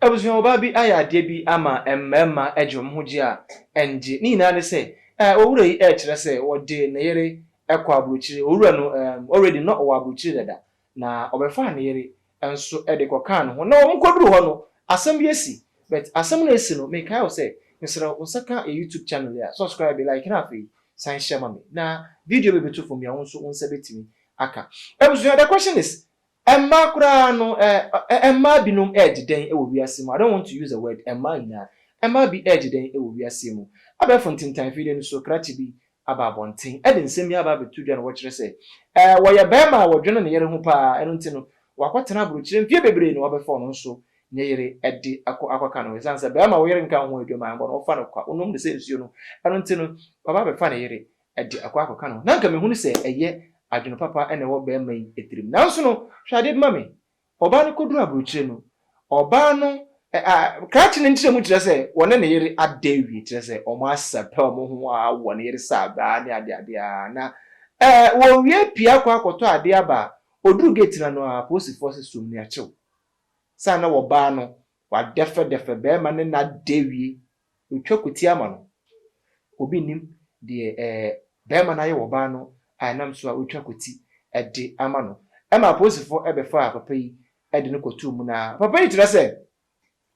Abusuabaa bi ayɛ adeɛ bi ama mmarima de wɔn ho gye a ɛngye. Ne nyinaa ne sɛ, eh, owura yi rekyerɛ sɛ ɔde ne yere kɔ aburokyire. Owura no, eh, already na ɔwɔ aburokyire dada, na ɔbɛfaa ne yere nso de kɔkaa ne ho. Na wɔkɔduru hɔ no, asɛm bi asi. But asɛm no a asi no, mekae wo sɛ, mesrɛ wo, nsa ka yɛn YouTube channel yi a, subscribe, like, na afei san hyɛ ma me. Na video bɛbɛtu fam yi a, wo nso wo nsa bɛtumi aka. Abusua, the question is, Mmaa koraa no ɛ ɛ mmaa binom regye dɛn wɔ wiase mu? I don't want to use the word mmaa nyinaa. Mmaa bi regye dɛn wɔ wiase mu? Abɛɛfo ntintan afidie no so krakye bi aba abɔnten de nsɛm bi aba abɛto dwa na wɔkyerɛ sɛ, ɛ ɛ wɔyɛ barima a wɔdwene ne yere ho pa ara, ɛno nti no wakɔtena aburokyire mfeɛ bebree na wɔabɛfa ɔno nso ne yere de akɔ akɔka ne ho. Ɛsiane sɛ barima a wo yere nka wo ho adwuma a ɛmmɔ no, wofa no kwa, wonom no sɛ nsuo no, ɛno nti no waba abɛfa ne yere. de akɔ akɔka no ho. Ná anka mehu no sɛ ɛyɛ adwene papa na ɛwɔ barima yi tirim. Nanso no, hwɛ ade bi ma me. Ɔbaa no kɔduruu aburokyire no, ɔbaa no, ɛ, a, krakye no nkyerɛmu kyerɛ sɛ wɔne ne yere ada awie, kyerɛ sɛ wɔasɛpɛ wɔn ho a wɔ ne yere saabaa ne adeade a, na, ɛ, wɔwie pue akɔ akɔtɔ adeɛ aba a, ɔduruu geeti no ano ara, apolisifoɔ se som no akyew. Saa na ɔbaa no, wɔadɛfɛdɛfɛ barima no nna ada awie Otwa kutia ma no. Obi nnim deɛ ɛɛ barima no ayɛ wɔ ɔbaa no a ɛnam so a otwa kuti de ama no. Ɛma apolisifoɔ bɛfaa papa yi de no kɔtoo mu na papa yi kyerɛ sɛ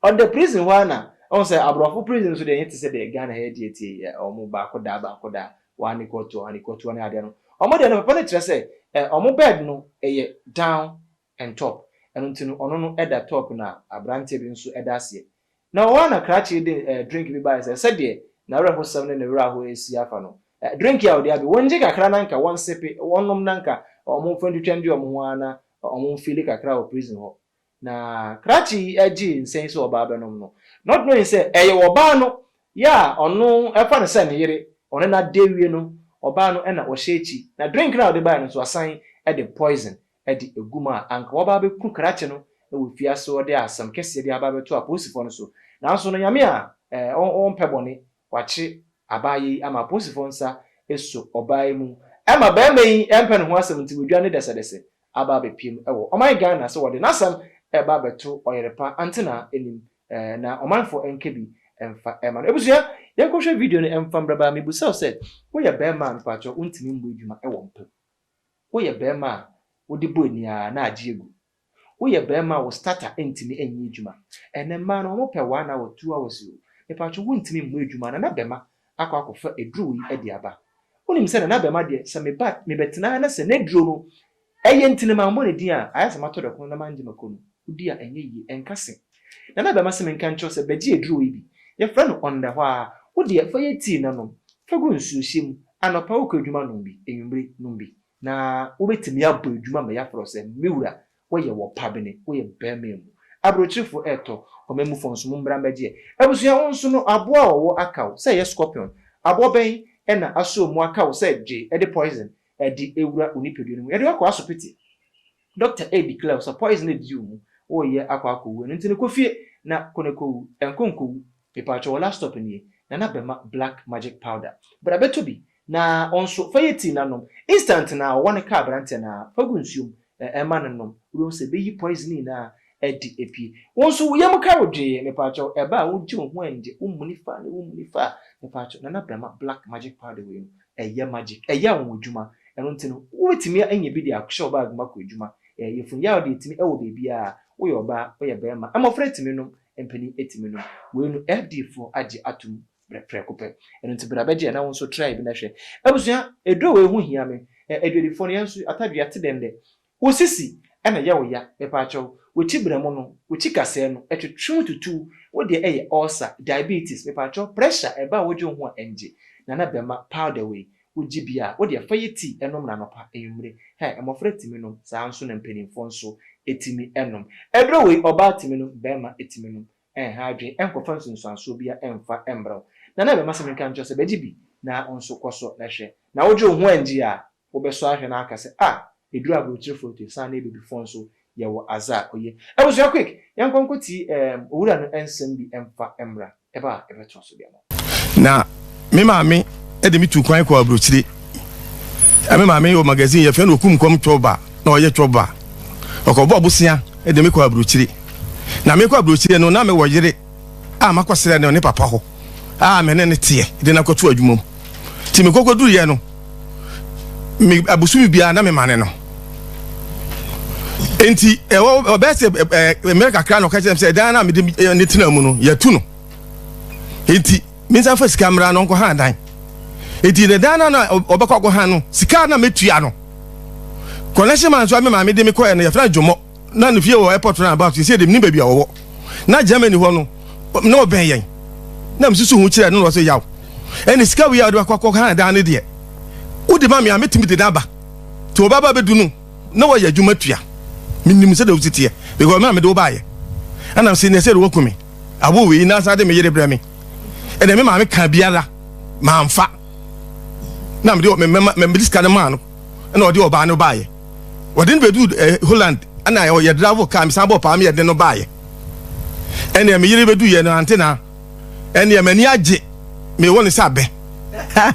ɔda prison hɔ ara na woahu sɛ aborɔfo prison nso deɛ ɛnyɛ te sɛ deɛ Ghana ha yɛ deɛ ti yɛ wɔn baako da baako da one ne kɔɔtoɔ one ne kɔɔtoɔ ne adeɛ no wɔn deɛ no papa no kyerɛ sɛ wɔn bed no yɛ down and top ɛno nti no ɔno no da top na abranteɛ bi nso da aseɛ na hɔ ara na krakye de eh drink bi baeɛ sɛ sɛdeɛ n'awerɛhosɛm ne ne werɛ ahoɔ ɛsi afa no eh drink yi a ɔde abe wɔngye kakra na nka wɔnsepe wɔnnom na nka wɔn mfa ntwitwa ndwe wɔn ho ara na wɔn mfeeli kakra wɔ prison hɔ na krakye yi gyee nsɛ yi sɛ ɔbaa bɛnom no not knowing sɛ ɛyɛ ɔbaa no yɛ a ɔno ɛfa no sɛ ne yere ɔne no ada awie no ɔbaa no na ɔhyɛ akyi na drink no a ɔde baeɛ no nso asan de poison de agu mu a, anka waba abɛku krakye no wɔ afiase hɔ de asɛm kɛseɛ de aba abɛto apolisifoɔ no so. Nanso no, Nyame a ɔmpɛ bɔne, wakyere abaayɛ yi ama apolisifoɔ nsa so ɔbaa yi mu ma barima yi mpɛ ne ho asɛm nti wadwane ne dɛsɛdɛsɛ aba abɛpiem wɔ ɔman Ghana sɛ wɔde n'asɛm reba abɛto ɔyerepa Antena anim na ɔmanfoɔ nka bi mfa mma no. Abusua, yɛnkɔhwɛ video no mfa mmra baa. Mebusa wo sɛ, woyɛ barima a, mpakyɛw wontumi mmɔ adwuma wɔ mpa mu? Woyɛ barima a wode bɔ ani ara na agye agu. Woyɛ barima a wo starter ntumi nyɛ adwuma. Ɛnnɛ mmaa no wɔpɛ wo a na watu wo awɛse o. Mepatwo wontumi mmɔ adwuma Nana Bɛma akɔ akɔfa aduro wei adi aba. Wonim sɛ Nana Bɛma deɛ sɛ meba a mebɛtena ha na sɛ n'aduro no ɛyɛ nti na mammɔ ne din a ayɛ sɛ matɔ dɔkono na mangye m'akɔnnɔ. Wodi a ɛnyɛ yie. Ɛnka se. Na na bɛma se menka nkyerɛ wo sɛ bɛgye aduro yi bi. Yɛfrɛ no ɔndɛhwaa. Wo deɛ fa yɛ tii na nom. Fa gu nsuohyɛ mu. Anɔpa wokɔ adwuma nom bi. Anwummere nom bi. Na wobɛtumi abɔ adwuma ma yɛafrɛ wo sɛ, Me wura, woyɛ wɔpabene. Woyɛ barima amu. Aburokyirifoɔ retɔ. Ɔmanmufoɔ nso, mommra mmɛgyeɛ. Abusua, wo nso no, aboɔ a ɔwɔ aka wo sɛ yɛ scorpion. Aboɔ bɛn na asɔɔ mu aka wo sɛ gye de poison de wura wo nipadua no mu. Yɛde wo akɔ asopiti. Doctor A declare wo sɛ poison na edidi wo mu, wo reyɛ akɔ akɔ wu, ɛno nti no kɔ fie na kɔ na kɔ wu, ɛnkɔ nkɔ wu, mepaatwɔ wo last stop nie, Nana Bɛma black magic powder, bra bɛ tɔ bi, na wo nso fa yɛ tea na nom, instant no ara wɔ no ka abranteɛ no ara, fa gu nsuo mu na ɛma no nom, wo bɛ hu sɛ bɛ yi poison nyinaa adi apue, wo nso wo yam ka wo dwee, mepaatwɔ wo ɛba a wo gye wo ho ɛngye, wo muni faa ne wo muni faa, mepaatwɔ Nana Bɛma black magic powder wei no Ɛyɛ magic. Ɛyɛ anwanwadwuma. Ɛno nti no, wobɛtumi anya bi de ahyɛ wo bag mu akɔ adwuma. Ɛɛ, yafunu yaw deɛ ɛtumi wɔ baabiara. Woyɛ ɔbaa, woyɛ barima, mmɔfra tumi nom, mpanin tumi nom. Wei no, FDfoɔ agye atom berɛ prɛko pɛ. Ɛno nti bra bɛgye na wo nso try bi na hwɛ. Abusua, aduro wei ho hia me. Ɛɛ, adwadifoɔ no, yɛn nso atadwea te dɛn dɛ? Wo sisi na ɛyɛ wo ya mepaakyɛw, w'akyi brɛmo no, w'akyi kasɛɛ no, ɛtwetwe wo tutuw, wo deɛ ɛyɛ ulcer, diabetes, mepaakyɛw pressure a ɛba a wodwe wo ho a ɛngye, Nana Bɛma powder wei wogye bi a, wo deɛ fa yɛ tea nom no anɔpa, anwummere, hɛ, mmɔfra tumi nom, saa ara nso na mpanimfoɔ nso tumi nom. Aduro wei ɔbaa tumi nom, barima tumi nom, Ɛnha adwene, ɛnkɔfa nsunsuansoɔ biara mmfa mmrɛ wo. Na na ɛbɛma sɛ menka nkyerɛ wo sɛ, 'Bɛgye bi, na wo nso kɔ so na hwɛ. Na wogye wo ho anngye a, wobɛsɔ ahwɛ na aka sɛ, 'Ah, ɛduru aburokyerefo no to, ɛsiane na Abibifoɔ nso yɛwɔ adze a oye. Abusua, quick, yɛnkɔ nkɔtie ɛɛm Owura no nsɛm bi mfa mmra. Ɛba a, ɛbɛtoa so deɛ. Na me maame de me tu kwan kɔ aburokyire. Me maame wɔ magazine yɛfrɛ no Okum Nkɔm Twɔba na ɔyɛ twɔba. Ɔkɔbɔ abosea de me kɔ aburokyire. Na mekɔ aburokyire no na mewɔ yere a makɔsrɛ no ne papa hɔ a me ne ne teɛ de no akɔto adwuma mu. Nti mekɔkɔduruiɛ no, me abosome biara na mema ne no. Nti ɛwɔ ɔbɛyɛ sɛ mmerɛ kakra na ɔka kyerɛ me sɛ dan no a mede ne tena mu no yɛatu no. eti minsan fa sika mmra no nkɔhan dan eti ne dan no na ɔbɛkɔ akɔhan no sika na metua no connection man nso a me maame de me kɔɛ no yɛfrɛ dwomɔ na ne fie wɔ airport no about sɛ de menim baabi a wɔwɔ na germany hɔ no na ɔbɛn yɛn na mesusu ho kyerɛ no na ɔsɛ yaw ɛne sika wei a ɔde wakɔ akɔhan dan no deɛ wode ma me a metumi de no aba nti ɔbaba bɛdu no na wɔyɛ adwuma tua menim sɛ dɛ wositeɛ because me a mede wo baayɛ ɛnam sɛ neɛ sɛ de wɔku me Awo wei na asa de me yere brɛ me. Ɛna me maame ka biara mamfa. Na me de me mɛma me de sika no maa no. Ɛna ɔde ɔbaa no baayɛ. Ɔde no bɛdu eh, Holland. Ɛna ɔyɛ dravo kaa me san bɔ paa me yɛde no baayɛ. Ɛna me yere bɛdu yɛ no ante na. Ɛna m'ani agye me wɔ ne sɛ abɛ.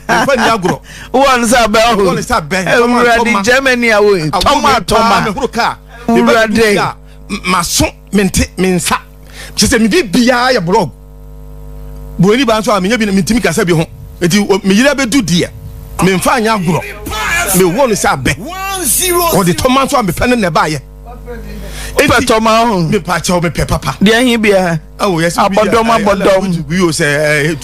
Mfa ni agorɔ. Wɔ ne sɛ abɛ ɔho. Wɔ ne sɛ abɛ. Ewurade Germany awo tɔma tɔma. Mehoro kaa. Ewurade. Maso mente me nsa. kyerɛ sɛ mede biara yɛ blog buroni baa nso a menyɛ bi mentumi kasa bi ho nti meyere abɛdu deɛ memfa anyɛ agorɔ mewɔ no sɛ abɛ ɔde tɔma nso a mepɛ no na ɛbaayɛ pɛ tɔma ho mepɛ akyɛw mepɛ papa deɛ he biara abɔdɔm abɔdɔm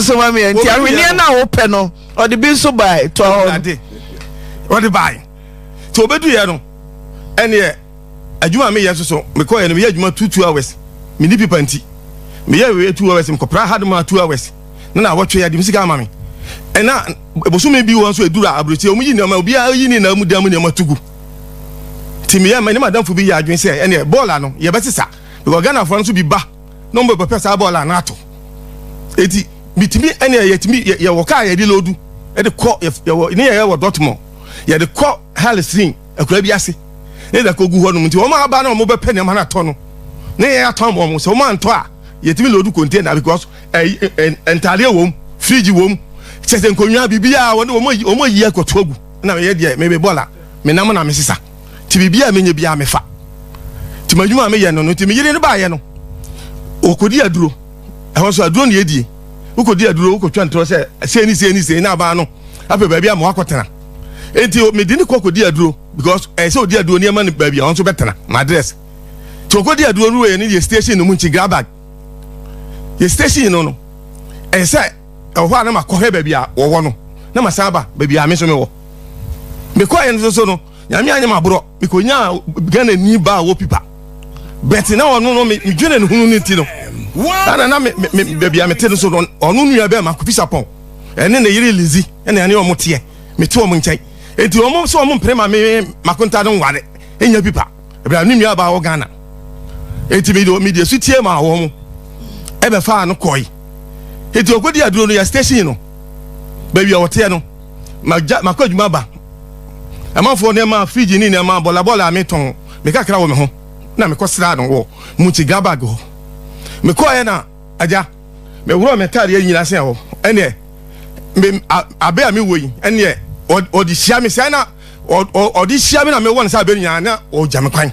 so ma meɛ nti ahweneɛ no a wopɛ no ɔde bi nso bae tɔɔ hɔ ade ɔde bae nti ɔbɛduyɛ no ɛneɛ adwuma meyɛ nso so mekɔɛ no meyɛ adwuma two two hours meni pipa nti meyɛ weɛ two hours mekɔpra hard ma two hours na na wɔtwe adim sika ama me ɛna bosome bi wɔ nso ɛduru aburokyɛ ɔmu yi nneɛma obiara yi ne na mu dan mu nneɛma tugu nti meyɛ ma ne madamfo bi yɛ adwene sɛ ɛneɛ bɔɔla no yɛbɛsesa because ghanafoɔ no nso bi ba na wɔn bɛpɛ saa bɔɔl a na ato eti mitumi ɛnna yɛtumi yɛwɔ kaa yɛde loodu ɛde kɔ yɛwɔ ne yɛyɛ wɔ dɔtmɔ yɛde kɔ halesrin akura bi ase ne yɛde kɔ gu hɔ nom nti wɔn aba na wɔn bɛpɛ nneɛma no atɔ no ne yɛyɛ atɔn wɔn sɛ wɔn antɔ a yɛtumi loodu container because ntaadeɛ wɔm fridge wɔm kyɛ sɛ nkonnwa biribiara wɔn wɔn ayi akɔto agu na yɛ deɛ mebe bɔɔl a menam na mesesa nti biribiara a menya biara mefa nti m'adwuma a meyɛ no no nti me yere no baayɛ no ɔkɔdi aduro ɛhɔ nso aduro ne yɛdie wokɔdi aduro wokɔtwa ntorɔ sɛ sei ne sei ne sei na abaa no apɛ baabi ama wakɔtena nti mede ne kɔ kɔdi aduro because ɛyɛ sɛ ɔdi aduro nneɛma no baabi a ɔno nso bɛtena m'adrɛs nti ɔkɔdi aduro no wei no yɛ station no mu nti grabag yɛ station no no ɛyɛ sɛ ɛwɔ hɔ a na makɔhwɛ baabi a wɔwɔ no na masan aba baabi a me nso mewɔ mekɔɛ no so no Nyame anyɛ maborɔ mekonyaa Ghana ni baa wɔ pipa bɛte na ɔno no medwene ne hunu no nti no ana na baabi a mete no so no ɔno nua bɛɛ ma kofi sapɔn ɛne ne yere lizi ɛne ɛne ɔmo teɛ mete ɔmo nkyɛn enti ɔmo sɛ ɔmo mpere ma me makonta no nware ɛnya pipa ɛbɛra ne nua baa wɔ Ghana enti mede su tie ma wɔ mo ɛbɛfaa no kɔe enti ɔkɔdi aduro no yɛ station no baabi a ɔteɛ no makɔ adwuma ba Amanfoɔ nneɛma a fridge ne nneɛma a bɔlabɔla a metɔn me kakra wɔ me ho na mekɔsraa no wɔ Mutsi Gabag hɔ. Mekɔeɛ na agya, meworɔɔ m'ataadeɛ nyinaa sɛ ɔ ɛneɛ me a abɛ a mewɔ yi ɛneɛ ɔ ɔde hyia me sɛɛ na ɔ ɔ ɔde hyia me na mewɔ no sɛ abɛ nyinaa na ɔgya me kwan.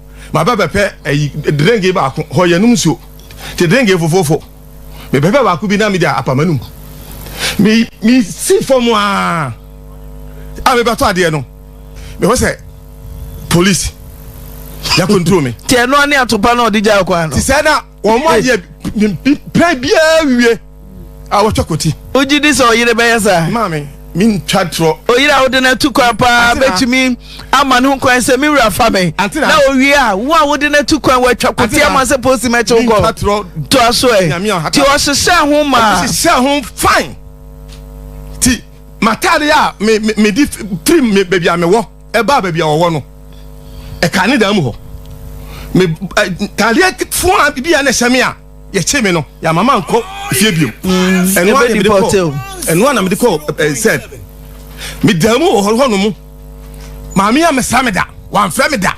maba bɛpɛ ayi drink baako hɔ yɛnom nsuo te drink fofofo mebɛpɛ baako bi na mede apa m'anum me me si fam a a mebɛtɔ adeɛ no mehɔ sɛ police yɛ control me. Ti ɛno ane atopa na ɔde gya kwan no. Ti sɛ na wɔn ayɛ pɛ biara wie. a wɔtwa kɔti. Wogye di sɛ ɔyere bɛyɛ saa? Maame, mentwa torɔ. Ɔyere a wode no atu kwan paa bɛtumi ama ne ho kwan sɛ me wura fa me. Na owie a, wo a wode no atu kwan wɔatwa kɔti ama sɛ posi mɛkye wo kɔ. Toa so ɛ. Nti ɔhyehyɛ ho ma. Ɔhyehyɛ ho fine. Ti matade a me me me di firi me baabi a mewɔ ɛbaa baabi a wɔwɔ no ɛka ne dan mu hɔ me tadeɛ fua bi a na ɛhyɛ me a yɛkyee me no yɛama ma nkɔ fie biom mm, ɛno a na mede kɔ ɛno a na mede kɔ sɛ medaa mu wɔ hɔ hɔ no mu maame a mesa me da wamfrɛ me da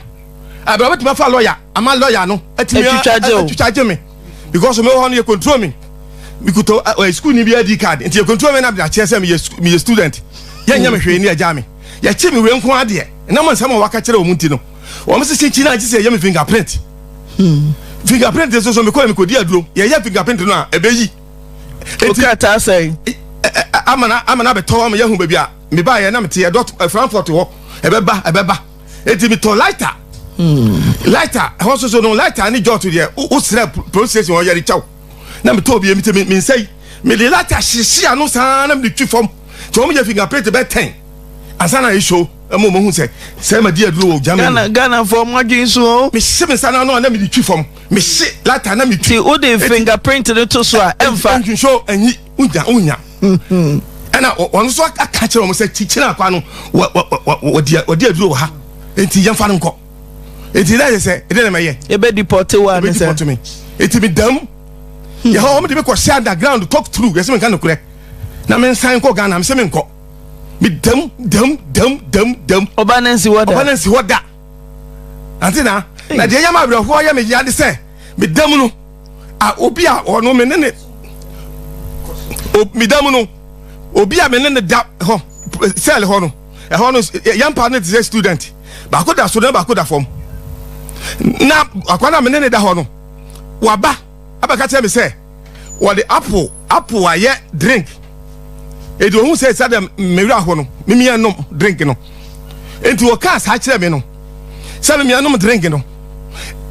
ɛbɛrɛ bɛtumi afa lɔya ama lɔya no atumi atwitwa gye me because me wɔ hɔ no yɛ control me mekuta ɛ sukuu ni bi adi card nti yɛ control me na mede akyerɛ sɛ meyɛ student yɛnyɛ me hwee ne agya me yɛkye me wei nko adeɛ ɛnam nsɛm a waka kyerɛ wɔn ti no wɔn sisi nkyi na gye sɛ yɛ me fingerprint fingerprint nso so mekɔɛ mekɔdi aduro yɛyɛ fingerprint no a ɛbɛyi wokataa sɛn amana amana abɛtɔ ama yɛahu baabi a mebaeɛ na meteɛ dɔt frankfurt hɔ ɛbɛba ɛbɛba ɛti metɔ lighter hmm. lighter ɛhɔ soso no lighter ne jɔt deɛ wosrɛ police station hɔ yɛde kyɛw na metɔ bie mete mensɛi mede lighter hyehye ano saa na mede twi fam nti wɔn yɛ fingerprint bɛ ten ansa na ɛso ɛma wɔn ho sɛ sɛ ɛma di aduro wɔ Germany. Ghana Ghana fɔ ɔmo adwene so o. mese me nsa no ano a na mede twi fam mese lata na metwi Ti o de fingerprint no to so a ɛnfa. nhwehwɛ anyi wonya wonya ɛna wɔ- wɔn nso aka kyerɛ wɔn sɛ kyikyiri akwa no wɔ- wɔ- wɔ- wɔ- wɔde wɔde aduro wɔ ha nti yɛmfa no nkɔ nti na yɛ sɛ ɛdɛ na mɛyɛ Ebe deport wa ne ɛbɛdi sɛ. pɔtɔ mi nti mi dam yɛ hɔ wɔn de mi kɔ hyɛ underground talk through yɛ sɛ mi nka nokorɛ na mi nsan kɔ Ghana mi sɛ mi nkɔ me dam dam dam dam dam ɔba no nsi hɔ da ɔba no nsi hɔ da ante na na deɛ yɛ ma awerɛhoɔ yɛ me yia de sɛ me dam no a obi a ɔno me ne ne me dam no obi a me ne ne da hɔ sɛl hɔ no ɛhɔ no yɛn pa no te sɛ student baako da so na baako da fam na akwa na me ne ne da hɔ no waba abɛka kyerɛ me sɛ wɔde apple apple ayɛ drink eti ohun sɛ sɛ dɛm mmewura hɔ no mimia nom drink no eti wɔkaa saa kyerɛ me no sɛ mimia nom drink no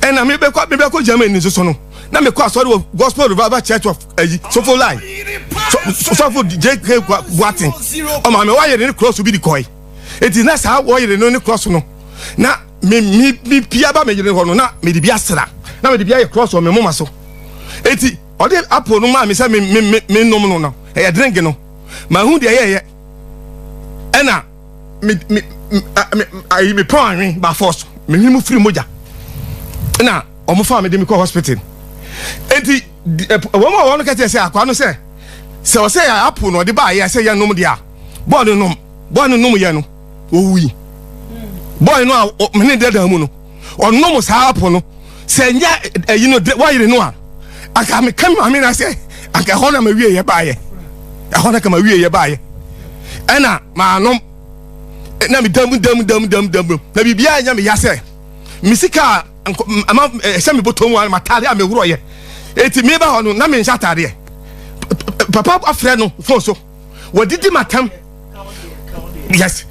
ɛna mebɛkɔ mebɛkɔ germany nso so no na mekɔ asɔre wɔ gospel revival church of ayi eh, sofo lai sɔfo jk boaten ɔma me wɔyere ne cross bi de kɔe eti na saa wɔyere no ne cross no na me me me pie aba me yere hɔ no na mede bi asra na mede bi ayɛ cross wɔ me moma so eti ɔde apple no maa me sɛ me me me me nom no no ɛyɛ drink no mahu deɛ ɛyɛ ɛyɛ ɛna me me me ayi me pɔn anwen ba force me hwi mu firi mogya ɛna wɔn fa me de me kɔ hospital eti wɔn a wɔn kɛkyɛ sɛ akwa no sɛ sɛ ɔsɛ yɛ apple na ɔde ba ayɛ sɛ yɛ nom deɛ a bɔɔl no nom bɔɔl no nom yɛ no. wɔwui bɔe no a mene dada mu no ɔnom saa apo no sɛ nyɛ ayi no wayere no a anka meka me maame no sɛ anka ɛhɔ na mawieyɛ baayɛ ɛhɔ na ka mawieyɛ baayɛ ɛna maanom na medam dam dam dam dam na biribiaa nyɛ meya sɛ me sika a ɛhyɛ me bɔtɔ mu a matade a meworɔyɛ ɛti meba hɔ no na menhyɛ atadeɛ papa afrɛ no fon so wɔdidi matam yes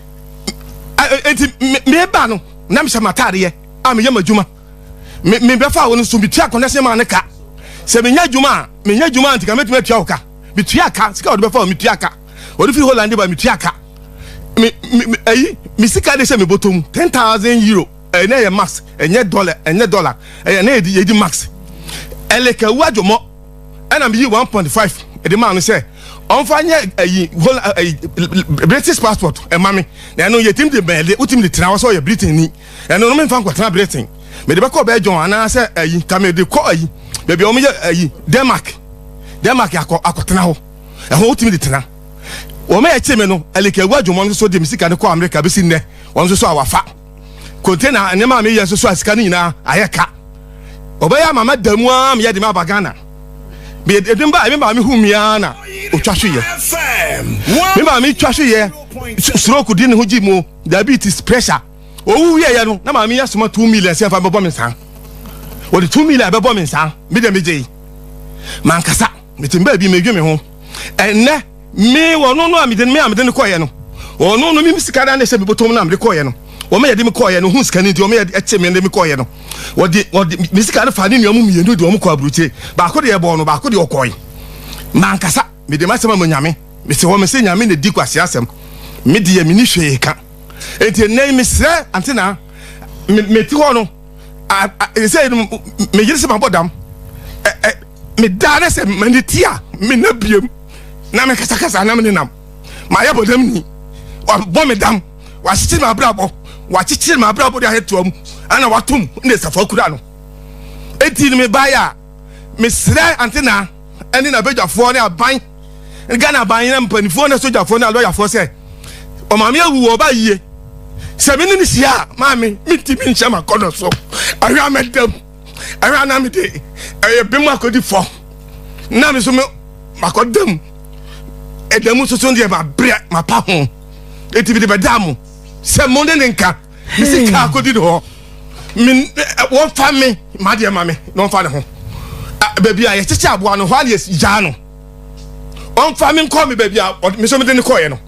eti meba no na mehyɛ mataadeɛ a meyɛ m'adwuma mebɛfa a wɔn nso metua akɔnɛ sɛ maa ne ka sɛ menya adwuma a menya adwuma a nti ka mɛtumi atua wo ka metua ka sika wɔde bɛfa wɔ metua ka wɔde firi holland ba metua ka me me ayi me sika de hyɛ me bɔtɔ mu ten thousand euro ɛnɛ eh, yɛ max ɛnyɛ eh, dɔla ɛnyɛ eh, dɔla ɛyɛ ne yɛ di max ɛlɛkɛwu adwomɔ. ɛna meyii one point five ɛde maa no sɛ ɔnfa nyɛ ɛyi whole ɛyi british passport ɛma mi na ɛno yɛtim de bɛn ɛde wotim de tena hɔ sɛ ɔyɛ britain ni ɛno no menfa nkɔtena britain mede bɛkɔ bɛɛ jɔn anaasɛ ɛyi ka mede kɔ ɛyi baabi a wɔyɛ ɛyi denmark denmark akɔ akɔtena hɔ ɛho wotim de tena wɔn a ɛkye mi no ɛlika ewu adwuma nso so de mi sika no kɔ amerika bɛsi nnɛ wɔn nso so a wafa. konte na nneɛma a meyɛ nso so a sika no nyinaa ayɛ ka ɔbɛyɛ ama ma da mu ara meyɛ de me aba ghana mede me ba me maame hu me ara na ɔtwa so yɛ me maame twa so yɛ stroke di ne ho gyi mu diabetes pressure ɔwu wieɛ no na maame yɛ soma two million sɛ ɛfa bɛbɔ me nsa wɔde two million bɛbɔ me nsa me deɛ megye mankasa metem baabi medwe me ho ɛnnɛ Me ɔno no a mede me a mede no kɔɔyɛ no ɔno no me sika da na ɛhyɛ me bɔtɔm no a mede kɔɔyɛ no wɔn yɛde me kɔɔyɛ no ho sika no nti wɔn yɛ ɛte me de me kɔɔyɛ no wɔde wɔde me sika no fa ne nua mu mmienu de wɔn kɔ aburokyire baako deɛ ɛbɔɔ no baako deɛ ɔkɔɔe mankasa mede m'asɛm ama nyame mese hɔ mese nyame na di kwasi asɛm me deɛ meni hwee ka enti ɛnɛ mesrɛ ante na mete hɔ no ɛsɛ no meyere sɛ mabɔ dam medaa na sɛ mane ti a mena biam na mekasakasa na mene nam mayɛ bɔdam ni wabɔ me dam wakyekyere me abrabɔ wakyekyere me abrabɔ de ayɛ toa mu ana watom ne safa kura no ɛti no mebaeɛ a Mesrɛ Antenaa ne n'abadwafoɔ ne aban, Ghana aban ne mpanimfoɔ ne sogyafoɔ ne alɔyafoɔ sɛ ɔmaame awu wɔ ɔba yie. Sɛ me ne no hyia a, maame mentumi nhyɛ m'akɔnɔ so. Ɛhwɛ a mɛdam, ɛhwɛ a na mede ɛyɛ bem akɔdi fam, na me nso makɔdam ɛda mu nso so deɛ mabrɛ mapa ho. Enti mede bɛdaa mo sɛ mo ne ne nka. me sika akɔdi ne hɔ wɔmfa me madeɛ ma me na ɔmfa ne ho baabi a yɛkyekyɛ aboa no hɔ a ne yɛgyaa no ɔmfa me nkɔ me baabi a me so mede ne kɔeɛ no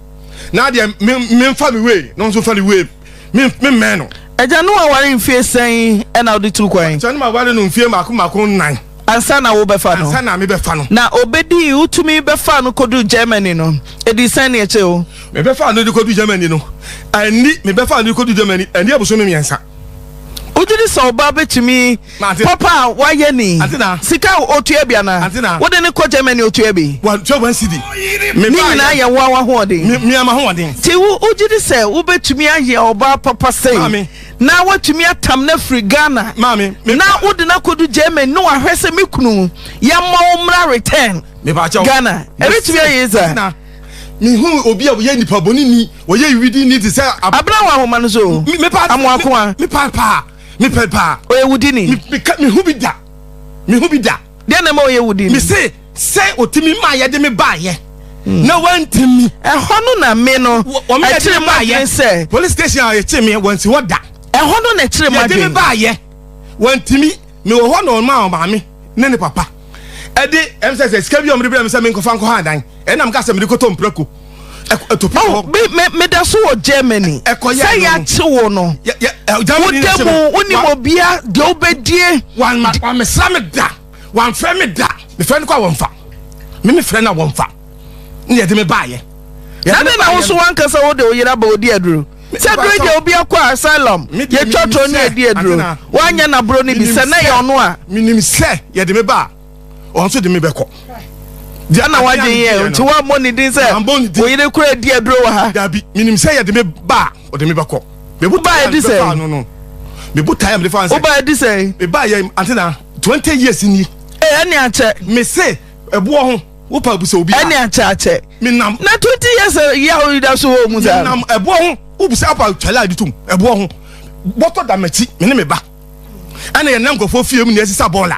na deɛ memfa me wei na ɔnso fa ne wei memmɛn no agya no aware mfie sɛn ɛna wode turu kwan agya no aware no mfie mako mako nnan Ansa na wobɛfa no. Ansa na mebɛfa no. Na obedii, wotumi bɛfaa no koduu Germany no. Edii sɛn ne akyire o? Mebɛfaa no de koduu Germany no. Anni, mebɛfaa no de koduu Germany, anni abosome mmiɛnsa. Wogye di sɛ ɔbaa betumi Mate. papa a wayɛ ni? Ante na. Sika a otua bi anaa? Ante na. Wode no kɔ Germany otua bi? Watua wɔn sidi. Ne Mebaa nyinaa yɛ. yɛ wo ara w'ahoɔden. Me, me ama ho ɔden. Nti wo, wogye di sɛ wobetumi ayɛ ɔbaa papa sei? Maame. na woatumi atam no afiri Ghana na wode no akɔdu Germany ne wahwɛ sɛ me kunu yɛmmɔ wo mmra return Ghana ɛbɛtumi ayɛ dza mehu obi a wɔyɛ nipa bɔne ni wɔyɛ widi ni te sɛ abena wɔ ahoma no so amoakoa mepaa paa mepɛ paa ɔyɛ wudi ni mehu bi da mehu bi da Deɛ na ɛma ɔyɛ wo den. Mese sɛ ɔtumi maa yɛde me baayɛ hmm. na wantumi. Ɛhɔ no na me no ɛkyerɛ mu adwene sɛ. Police station a yɛkye me wɔnsi hɔ da. Ɛhɔ no na ɛkyerɛ mu adwene. Yɛde me baayɛ wantumi me wɔ hɔ na ɔma ɔmaame ne ne papa. Ɛde ɛm sɛ sɛ sika bi a wɔde brɛ me sɛ menkɔfa nkɔha adan ɛnam ka sɛ mede kɔtɔ mprako. Oh, meda so wɔ germany sɛ yɛakye wo no woda mu wonim obia deɛ wobɛdie wamesra me da wamfrɛ me da mefrɛ no kɔ a wɔmfa me mefrɛ no a wɔmfa ne yɛde me baayɛ na ne na wo so wankasa wode wo yera ba ɔdi aduro sɛ duro deɛ obi akɔ asylum yɛtwa toro ne ɛdi aduro woanyɛ naboro no bi sɛ na yɛ ɔno a menim sɛ yɛde me ba a ɔno nso de me bɛkɔ deɛ na wagye yɛ nti wammɔ ne din sɛ oyere kora adi aduro wɔ ha daabi menim sɛ yɛde me ba a ɔde me bɛkɔ wobaa adi sɛ no no mebu tae a mede fa nsɛ wobaa adi sɛ mebaa yɛ antena 20 years ni ɛne akyɛ mese ɛboɔ ho wopa bu sɛ obi ɛne akyɛ akyɛ menam na 20 years yɛ a woyida so wɔ mu saa menam ɛboɔ ho wobu sɛ apa twale a de tom ɛboɔ ho bɔtɔ da m'akyi me ne me ba ɛna yɛnam nkurɔfoɔ fie mu ne ɛsesa bɔɔla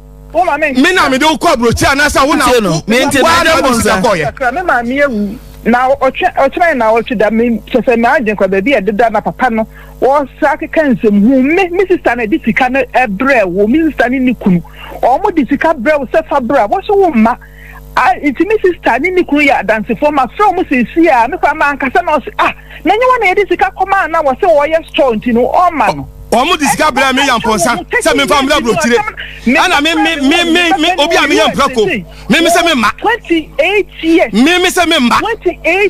me na mede wo kɔ aburokyi anaasɛ wo na wo na wode sika kɔɔyɛ. me maame awu na ɔkyerɛ na ɔtwe da me kyɛ sɛ maa gye nkɔ baabi a ɛdeda na papa no wɔsa keka nsɛm hu me me sista na ɛde sika no ɛbrɛ wo me sista ne ne kunu wɔn de sika brɛ wo sɛ fa brɛ wɔhyɛ wo mma Ah nti me sister ne ne kunu yɛ adansefoɔ mafrɛ wɔn seesei a me koraa mankasa na ɔse ah na ɛnyɛ wɔn na yɛde sika kɔmaa na wɔse wɔyɛ store nti no ɔmma no wɔn de sika brɛ me yampɔnsa sɛ memfa mmra aburokyire ɛna me me me me me obi a meyɛ mprako me me sɛ memma me me sɛ memma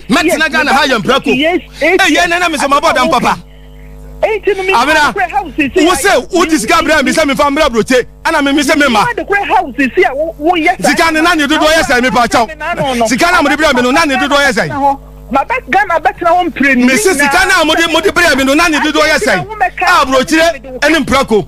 mɛtena ghana ha yɛ mprako ɛyɛ nana me sɛ mabɔ dam papa abena wo se wo ti sika abira mi sɛ mi fa mbira burote ɛna mi mi sɛ mi ma sika ni na ni dodo yɛ sɛ mi pa kyɛw sika na mo di bira mi no na ni dodo yɛ sɛ. mi si sika na mo di mo di bira mi no na ni dodo yɛ sɛ a burokyire ɛni mpirako.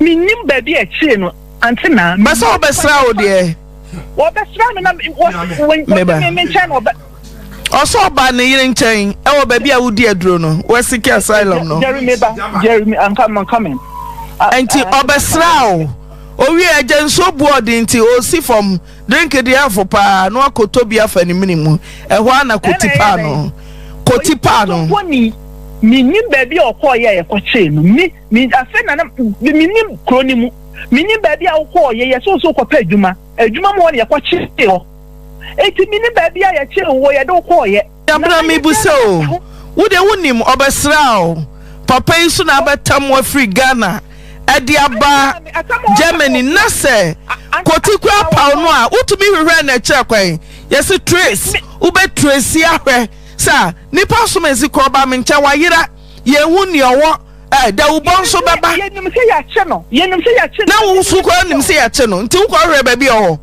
Mennim baabi a akyire no ante na. Bɛ sɛ wɔbɛsra wo deɛ. Wɔbɛsra me na wɔsi me nkyɛn na ɔbɛ. Ɔsɛ ɔba ne yere nkyɛn ɛwɔ baabi a wodi aduro no wɔasiki asylum no. Jerry meba Jerry I'm coming I'm coming. Nti ɔbɛsra wo owie agya nsuo bu ɔde nti ɔsi fam drink deɛ afo paa na wakɔtɔ bi afa ne mene mu ɛhɔ a na kɔti paa no kɔti paa no. Mennim baabi a ɔkɔɔ yɛ a yɛkɔkyee no. me afei na na me menim kuro no mu menim baabi a wokɔɔ yɛ yɛsɛ nso wokɔpɛ adwuma adwuma mu hɔ no yɛkɔkyee hɔ eti menim baabi a yɛkyee wo wɔ yɛde wokɔɔ yɛ yabra mebu sɛ o wo de wonim ɔbɛsra o papa yi so na abɛtam wafiri Ghana ɛde aba Germany na sɛ kɔti kora paw no a wotumi hwehwɛ na ɛkyerɛ kwan yɛse trace wobɛ trace ahwɛ sɛ nipa som nsi kɔ ɔba me nkyɛn wayera Yɛnhu nea ɔwɔ ɛ Dawubɔ nso bɛba. Yɛnim sɛ yɛakye no. Yɛnim sɛ yɛakye no. Na wo nso koraa nim sɛ yɛakye no. Nti wokɔhwehwɛ baabi a ɔwɔ.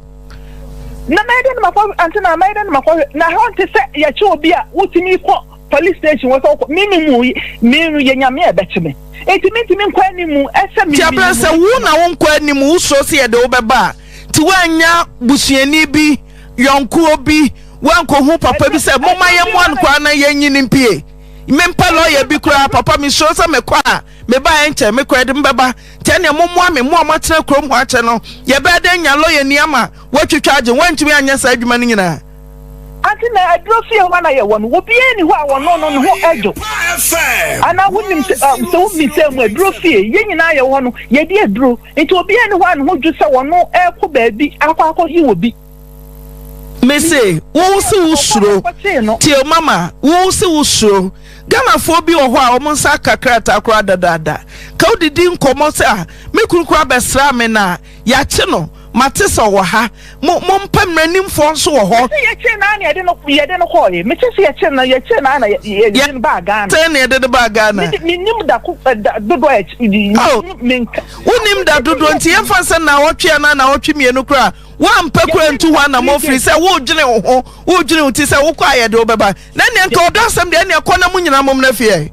Na mɛyɛ dɛn na makɔ ante na mɛyɛ dɛn na makɔhwɛ na hɔ nte sɛ yɛkye obi a wotumi kɔ police station wɔ sɛ wokɔ me me mu me no yɛ nyame a ɛbɛkye me nti mentumi nkɔ anim ɛsɛ me. Ti abirɛ sɛ wo na wo nkɔ anim wo suro sɛ yɛde wo bɛba a ti woanya busuani bi yɔnkuo bi woankɔhu papa bi sɛ momma yɛmmoa no koraa na yɛnyi no mpie. mempɛ lɔya bi koraa papa mesuro sɛ mekɔ a mebaeɛ nkyɛ mekɔ ɛde mbɛba nti ɛneɛ mommoa me mo a moatena kurom hɔ akyɛ no yɛbɛyɛ dɛn nya lɔyani ama woatwitwa agye woantumi anyɛ saa adwuma no nyinaa Ante na aduro fie hɔ na yɛwɔ no obiara ni hɔ a wɔno no ne ho adwo anaa wonim sɛ ah, sɛ wommisa mu aduro fie yɛn nyinaa yɛwɔ hɔ no yɛdi aduro nti obiara ni hɔ a ne ho dwo sɛ wɔno ɛrekɔ baabi akɔ akɔyi wɔ bi Mese wo se wo suro tio mama wo se wo suro Ghanafoɔ bi wɔ hɔ a wɔn nsa aka krataa koraa dadaada ka wodidi nkɔmmɔ sɛ a ah, me kunu koraa bɛsraa me na yɛakye no mate sɛ ɔwɔ ha mo mo mpa mmaranimfoɔ nso wɔ hɔ. ɛsɛ yɛkyɛ naa na yɛde no yɛde no kɔɔ yɛ mete sɛ yɛkyɛ na yɛkyɛ naa na yɛde no baa Ghana. sɛ na yɛde no baa Ghana. menim da ko eh, da dodoɔ a ɛkyɛ. wonim da dodoɔ nti yɛmfa sɛ na ɔtwe anaa na ɔtwe mmienu koraa. Woampɛ koraa ntu hɔ anammɔn firi sɛ woredwene wo ho, woredwene wo ti sɛ wokɔ a yɛde wobɛba. Na nea nka ɔdɔ asɛm deɛ, ɛnneɛ kɔ na mo nyinaa mommra fie ɛ.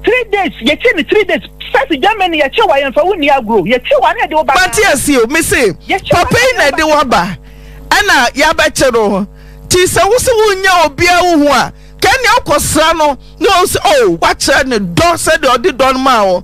Three days, yɛkye ne three days. Sasi Germany, yɛkye wa, yɛmfa wo nni agorɔ. Yɛkye wa na yɛde wo ba Ghana. Mate aseɛ o, mese papa yi na ɛde wo aba ɛna yɛabɛkye no. Nti sɛ wo se wonnya obiara wo ho a, ka ɛnneɛ wokɔsra no na ɔhu sɛ oh, woakyerɛ ne dɔ sɛdeɛ ɔde dɔ no maa wo.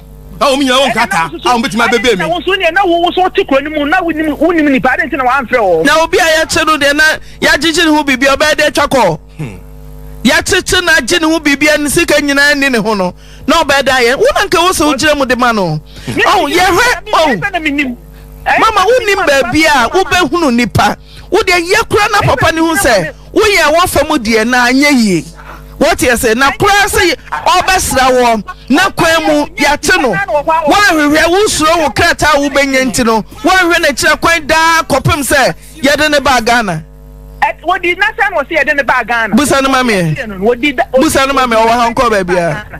na wɔn nyinaa wɔ nkrataa a wɔbɛtumi abɛbɛ mi. wɔn so deɛ na wɔn so te kuro no mu na wonim nipa adi nti na wɔamfrɛ wɔn. na obi a yɛkye no deɛ na yɛagyegye ne ho biribi ɔbɛyɛ de atwa kɔ hmm. yɛkyekye no agye ne ho biribi ne sika nyinaa ni ne ho no na ɔbɛyɛ de ayɛ wona nka wo sɛ wogyina mu de ma no ɔho yɛhwɛ ɔho mama wonim baabi a wobɛhunu nipa wodeɛ yɛ kora na papa ne hu sɛ Woyɛ a wɔfa mu deɛ na anyɛ yie wate aseɛ na koraa sɛ ɔbɛsra wɔ na kwan mu yɛate no woanhwehwɛ wosuro wo krataa a wobɛnya nti no woanhwɛ no akyira kwan daa kɔpem sɛ yɛde ne baa Ghana. Busa no ma meɛ. Busa no ma meɛ ɔwɔ ha ɔnkɔɔ baabiara.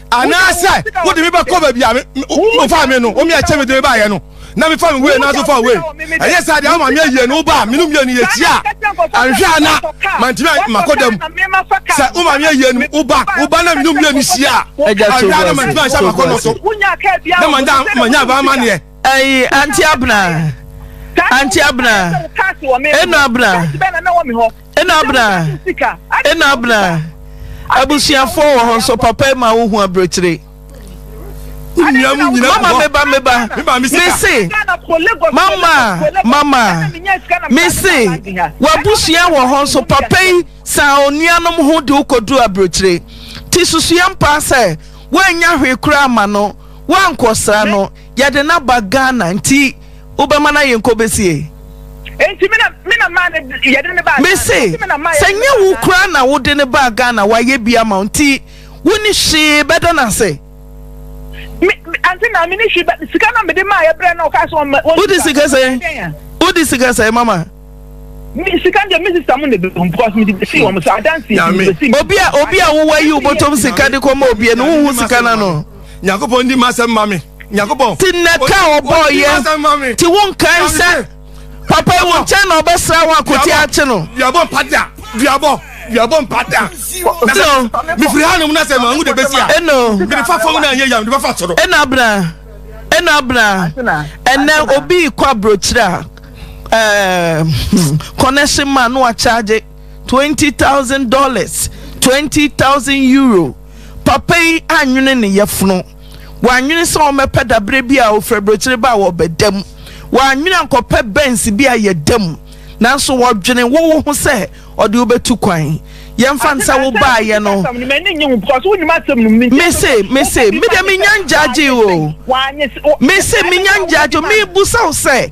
anaasɛ wode me bɛkɔ baabi a wofa me no omi ɛkyɛ me de me baayɛ no na mefa me wei nanso fa wei ɛyɛ sɛ deɛ ama me ayie no woba a menom mmienu yɛkyia a anhwɛ a na mantumi makɔ da mu sɛ woma me ayie no woba woba na menom mmienu hyia a anhwɛ a na mantumi anhyɛ makɔ no so na manya manya abaamaneɛ ɛyi anti abena anti abena ɛnu abena Ɛna abena ɛna abena abusuafoɔ wɔ hɔ nso papa ma wo hu aburokyire. Mama meba meba mese mama mama mese wabusua wɔ hɔ nso papa yi saa onuanom ho de wokɔduru aburokyire ti susua mpaa sɛ woannya hwee koraa ma no woankɔsra no Yɛde no aba Ghana nti wobɛma no ayɛ nkɔ bɛsie? Nti me na me na maa ne yɛde ne baa Ghana. Mese sɛ nyɛ wo koraa na wode ne baa Ghana wayɛ bi ama wo nti woni hwee bɛda no ase. Me ante na me ni hwee sika na mede maa yɛ brɛ na ɔkaa sɛ wɔn. Wode sika sɛn? Wode sika sɛn mama? sika deɛ me sista mu na ebi hom because me de besi wɔn so adansi de besi mi. obi a obi a wowɔ yi wobɔtɔm sika de kɔ ma obi ɛnu wohu sika na no. nyakopɔn di masɛm ma me nyakopɔn. ti nnɛ ka ɔbɔ yɛ ti wo nkan sɛ papa yi wo nkyɛn na ɔbɛsra wo akote akye no. duabɔ mpata duabɔ duabɔ mpata. ɛnno mefiri ha nom na sɛ mahu de besi a. ɛnno mede fa fam na anyɛ yam de bɛfa soro. ɛnna abena ɛnna abena ɛnna obi kɔ aburokyire a. ɛɛ hmm, connection man no akyagye twenty thousand dollars twenty thousand euro papa yi anwene ne yɛfono wɔanwene sɛ wɔbɛpɛ dabrɛ bi a ofura burokyire ba a wɔbɛda mu wɔanwene ankɔpɛ bɛns bi a yɛda mu nanso wɔdwene wowo ho sɛ ɔde wobɛtu kwan yɛmfa nsa wo baayɛ no mese mese mede menya ngyagye o mese menya ngyagye mebusa wo sɛ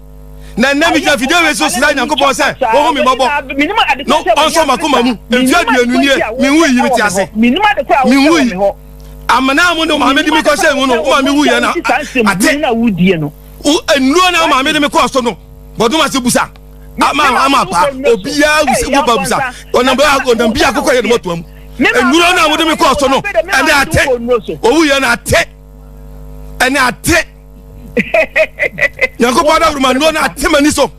na nnɛ megyina fidie wei so srɛ nyankopɔn sɛ ɔhu me mmɔbɔ na ɔnsɔ makoma mu mfe aduonu nie menwu yi mete ase menwu yi amena mo ne maame de me kɔhyɛ mu no woma mewu yɛ na ate nnuro na maame de me kɔɔ so no bɔdoma se busa ama ama pa obiara wusi wo ba busa ɔnam bɛ ɔnam bi akokɔ yɛ ne mɔtoa mu nnuro na wode me kɔɔ so no ɛne ate owu yɛ na ate ɛne ate nyankopɔn adawuruma nnuo no ate m'ani so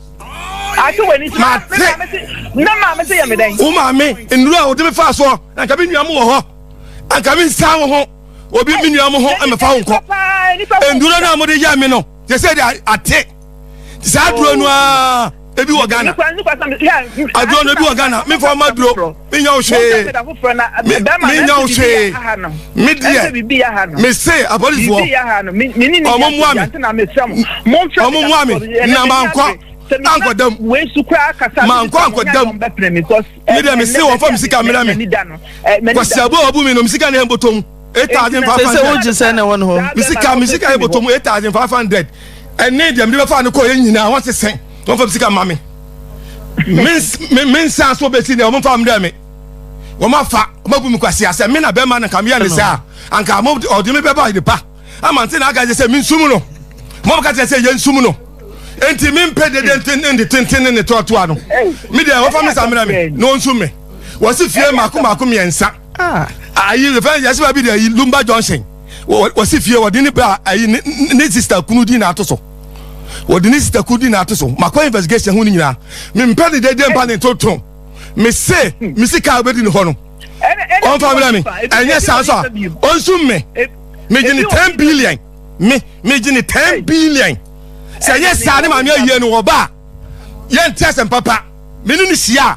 ate w'ani so mate na maame sɛ yɛ me dɛn wo maame nnuro a wode me faa soɔ na nka me nua mo wɔ hɔ anka me nsa wo ho obi me nua mo ho ɛmɛfa wo nkɔ nnuro no a mode yɛ me no yɛ sɛ de ate saa duro no a ebi wɔ ghana aduro no ebi wɔ ghana mefa ɔma duro menya wo hwee menya wo hwee medeɛ mese apolisifoɔ ɔmo mmoa me ɔmo mmoa me na mankɔ ankɔ dam mankɔ ankɔ dam medeɛ mese wɔfa me sika mmra me kwasiabo a ɔbu me no me sika ne ɛmbɔtɔ mu eight thousand five hundred. sɛ sɛ wogye sɛ na ɛwɔ ne hɔ. mesi ka mesi ka eboto mu eight thousand five hundred ɛne deɛ mede bɛfa ne kɔɔ yɛ nyinaa wɔn sesɛn wɔn fa sika ma me me nsa so bɛsi deɛ wɔn fa wɔn dɛ me wɔn afa wɔn abu mi kwasi asɛ me na bɛrima na nka mi yɛ ne saa anka wɔn ɔde mi bɛba ne pa ama nti na aka kyerɛ sɛ mi nsum no wɔn aka kyerɛ sɛ yɛ nsum no nti mi mpɛ dede ntenten ne tenten ne ne tɔɔtoa no mi deɛ wɔfa mi sa mmerɛ mi na wɔn nsum mi wɔsi fie mako mako mmiɛnsa. Ah ayi fɛn yɛsi baabi de ayi lumba junction wɔsi fie wɔde ne ba ayi ne sista kunu di na ato so wɔde ne sista kunu di na ato so makɔ investigation ho ne nyinaa mempɛ ne dede mpa ne ntontom mese mesi kaa wobɛdi ne hɔ no ɔmfa mmerɛ me ɛnyɛ saa so a ɔnsum me megye ne 10 billion me megye ne 10 billion sɛ ɛnyɛ saa ne maame ayie no wɔba a yɛnte asɛm papa mene ne hyia a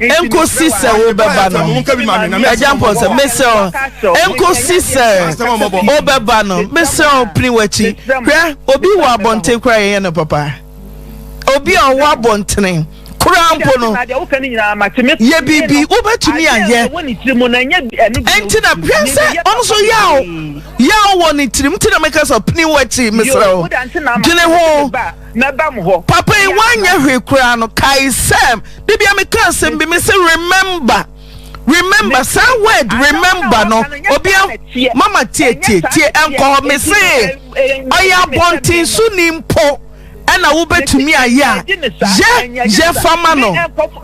ɛnkosi sɛ wobɛba no. Agya Mpɔnsɛ, mesrɛ wo, ɛnkosi sɛ wobɛba no, mesrɛ wo, pini w'akyi. Hwɛ, obi wɔ abɔnten koraa yɛyɛ no papa. Obi a ɔwɔ abɔntene koraa mpo no, yɛ biribi wobɛtumi ayɛ. Ɛnti na hwɛ sɛ ɔno so yaw yaw wɔ ne tirim, nti na meka sɛ pini w'akyi, mesrɛ wo, dwene ho. mɛbam hɔ. Papa yi wanyɛ hwee koraa no kae sɛ da bi a meka asɛm bi mese remember remember saa word remember no obia mama tie tie tie ɛnkɔ hɔ me se ɔyɛ abɔnten so ni mpo ɛna wobɛtumi ayɛ a yɛ yɛ fama no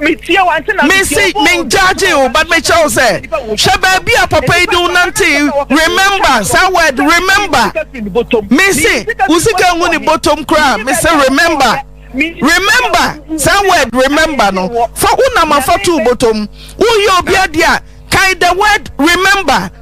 Mensi menjudge wo but mekyerɛ wo sɛ hwɛ baabi a papa yi de wo nante remember saa word remember mensi wo sika ngu ne bɔtɔm koraa mese remember remember saa word remember no fa wo nam afa to bɔtɔm woyɛ obi adeɛ a kan the word remember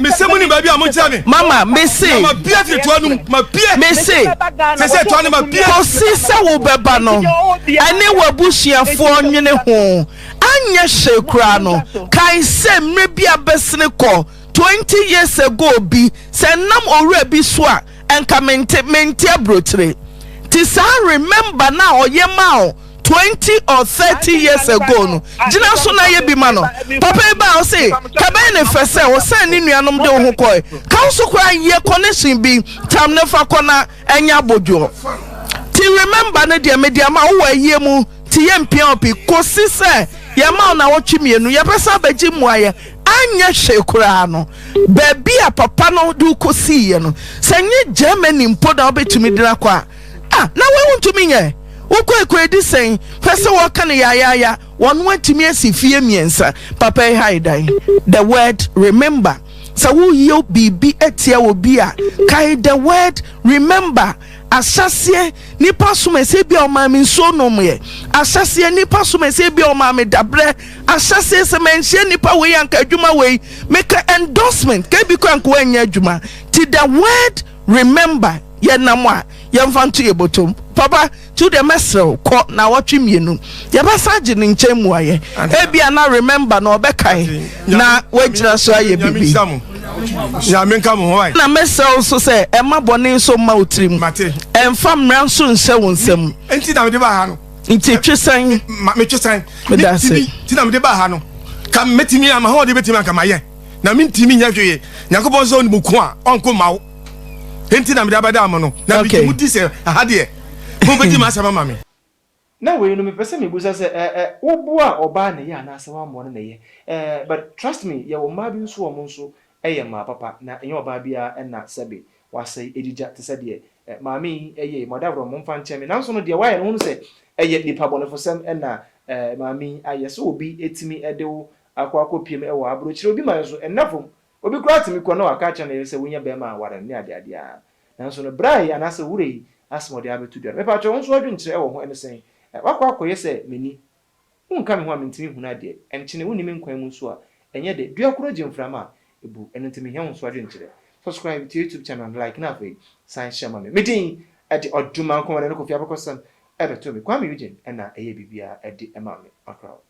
mese mo ni baabi a mo nkyerɛ me mama mese na mabia firi toa no mu mabia mese sese toa no mabia kɔsi sɛ wobɛba no ɛne w'abusuafoɔ nwene ho anyɛ hyɛ koraa no kan sɛ mmerɛ bi abɛsene kɔ 20 years ago bi sɛ nam owura bi so a ɛnka mente mente aburokyire te saa remember na ɔyɛ ma o twenty or thirty years ago no gyina so na yɛ bi ma no papa yi baa ɔse kabɛn ne fɛ sɛ ɔsan ne nuanom de wo ho kɔe ka wo so koraa yɛ connection bi tam ne fa kɔ na ɛnyɛ abodwoɔ ti remember no deɛ mede ama wowɔ ayie mu ti yɛ mpia opi kɔsi sɛ yɛma wo na wɔtwe mmienu yɛbɛsa bɛgye mmuaeɛ anyɛ hwee koraa no baabi a papa no de kɔsiiɛ no sɛ nye Germany mpo na wobɛtumi de no akɔ a A, na wei wontumi nyɛ. Wo kwaekwaedi sɛn? Hwɛ sɛ wɔka no yaayaaya. Wɔno atumi asi fie mmiɛnsa. Papa yi hae dan. The word remember. Sɛ woyɛ biribi atia obi a, kae the word remember. Ahyɛseɛ nipa som ɛsɛ bi a ɔmaa me nsuo nomyɛ. Ahyɛseɛ nipa som ɛsɛ bi a ɔmaa me dabrɛ. Ahyɛseɛ sɛ manhyia nipa wei anka adwuma wei meka endorsement kɛ bi kɔ anka wɔanyɛ adwuma. Ti the word Remember yɛ nam a yɛnfa nto yɛ botom papa to deɛ mɛsrɛ wo kɔ naawɔtwe mmienu yɛbɛsan agye ne nkyɛn mmuaeɛ ebia na remember no ɔbɛkae na wagyina so ayɛ biribi na mɛsrɛ wo nso sɛ ɛma bɔne nso mma wo tirim ɛmfa mmara nso nhyɛ wo nsam nti na mede ba ha no nti twe sɛn metwe sɛn meda ase nti na mede ba ha no ka mɛtumi ama ho ɔde bɛtumi anka mayɛ na mentimi nyɛ hwee nyankopɔn sɛ onimu ko a ɔnko mma wo enti na mede abɛda mo no na bigye mu di sɛ aha deɛ mompɛgye ma asɛm ama me na wei no mepɛ sɛ mebusa sɛ eh eh wo boa ɔbaa na ɛyɛ anaasɛ wammɔ no na ɛyɛ eh but trust me yɛwɔ mmaa bi nso wɔn nso yɛ mmaa papa na ɛnyɛ ɔbaa biara na sɛbe wasɛe agyigya te sɛ deɛ eh maame yi yɛe mɔdaborɔ momfa nkyɛ me nanso no deɛ wayɛ no hunu sɛ ɛyɛ nipa bɔnefosɛm na eh maame yi ayɛ sɛ obi timi de wo Akɔ akɔpiem wɔ aburokyire obi man so, ɛnna fam. Obi koraa tumi kɔ na waka akyerɛ ne yere sɛ wonnya barima aware no ne adeade a. Nanso no bra yi anaasɛ wura yi asɛm a ɔde abɛto dwa no, mepakyɛw wo nso w'adwenkyerɛ wɔ ho, ɛne sɛn? Woakɔ akɔyɛ sɛ m'ani. Wonka me ho a mentumi nhunu adeɛ. Ɛnkyene, wonni me nkwan mu nso a, ɛnyɛ dɛ. Dua koro gye mframa a, ɛbu. Ɛno nti mehia wo nso w'adwenkyerɛ. Subscribe to YouTube channel no, like na afei san share ma me. Me din de Odumankɔ, wɔde ne Kofi Abakɔsɛm bɛtoo me. Kwame Eugene na ɛyɛɛ biribiara de maa me. Ɔkra wo.